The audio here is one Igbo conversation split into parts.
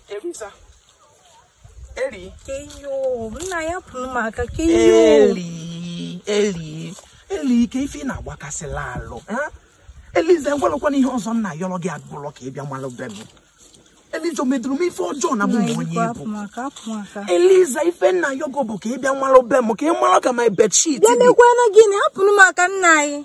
Eliza. Eli. Eyo, nna hapụrụ m aka ka eyo. Eli, eli, eli ike ife ị na-agbakasịla alụ. eh? Eliza ngwalụkwana ihe ọzọ m na-ayọrọ gị abụlọ ka ị bịa malụ be m. Eliza o meduru m ife ọjọọ na bụ Nna m onye Igbo, ịbụ. hapụ m aka, hapụ m aka. Eliza ife m na-ayọ gị bụ ka ị bịa malụ be m ka ị malụ ka my bedsheet Bịa dị. mekwanụ gịnị, hapụrụ m aka nna anyị.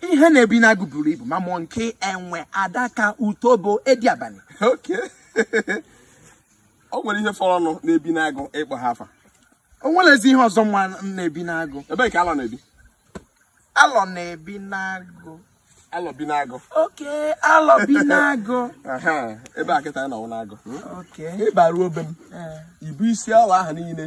ihe na-ebi n'agụ buru ibu ma mụ nke enwe adaka utobo edi abanị okay o nwere ihe fọrọnụ na-ebi n'agụ ị kpọ ha afa o nwelezi ihe ọzọ nwa m na-ebi n'agụ ebee ka alọ na-ebi alọ na-ebi n'agụ alọ bi n'agụ okay alọ bi n'agụ Aha, ebe a kịta anyị nọ wụ n'agụ okay ị baruo be m ee ibu isi alọ ahụ niile